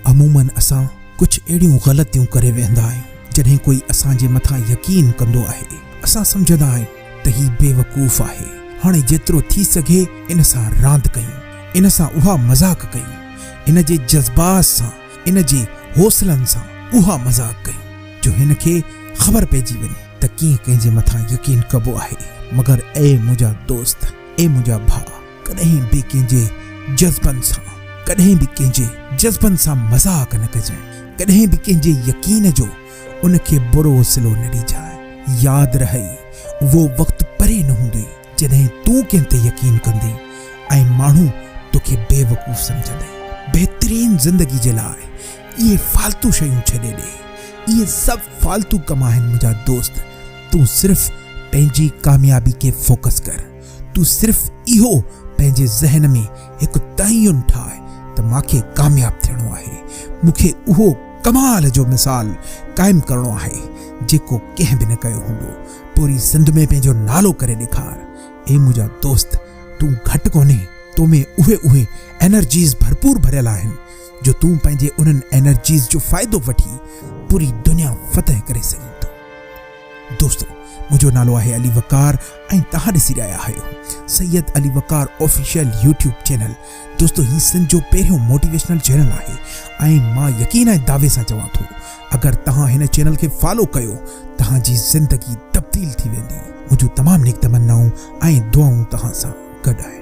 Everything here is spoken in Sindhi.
عموماً اسان ڪجهه اهڙيون غلطيون ڪري ويهندا آهيون جڏهن ڪوئي اسان جي مٿان يقين ڪندو آهي اسان سمجهندا آهيون ته هي بيوقوف آهي هاڻي جيترو ٿي سگهي ان سان راند ڪيون ان سان اها مذاق ڪيون ان جي جذبات سان ان جي حوصلن سان اها مذاق ڪيون جو هن کي خبر پئجي وڃي ته ڪيئن ڪنهن جي مٿان يقين ڪبو آهي مگر اي منهنجا دوست اي منهنجا ڀاء ڪڏهن به ڪنهن جي جذبن سان ڪڏهن به ڪنهن جي جذبن سان مذاق نه ڪجانء، ڪڏهن به ڪنهن جي يقين جو ان کي برو صلو نه ڏجانء. ياد رهئي، اهو وقت پري نه هوندوئي، جڏهن تون ڪنهن تي يقين ڪندين ۽ ماڻهو تو کي بيوقوف سمجهندئي. بهترين زندگي جي لاء اهي فالتو شيون ڇڏي ڏي. اهي سڀ فالتو ڪم آهن منهنجا دوست. تون صرف پنهنجي ڪاميابي کي فوڪس ڪر. تون صرف اهو پنهنجي ذهن ۾ هڪ تعين ٺاهه ته مان کي ڪامياب ٿيڻو آهي، مون کي اهو ڪمال جو مثال قائم ڪرڻو آهي جيڪو ڪنهن به نه ڪيو هوندو، پوري سنڌ ۾ پنهنجو نالو ڪري ڏيکار. اي منهنجا دوست تون گهٽ ڪونهي، تو ۾ اهي اهي انرجيز ڀرپور ڀريل آهن جو تون پنهنجي انهن انرجيز جو فائدو وٺي پوري دنيا فتح ڪري سگهين ٿو. دوستو منهنجو نالو آهي علي وقار ۽ توهان ڏسي رهيا آهيو Syed Ali Waqar official YouTube channel دوستو هي سنڌ جو پهريون موٽيويشنل چينل آهي ۽ مان يقين ۽ دعوي سان چوان ٿو اگر توهان هن چينل کي فالو ڪيو توهان جي زندگي تبديل ٿي ويندي منهنجون تمام نيڪ تمنائون ۽ دعائون توهان سان گڏ آهن.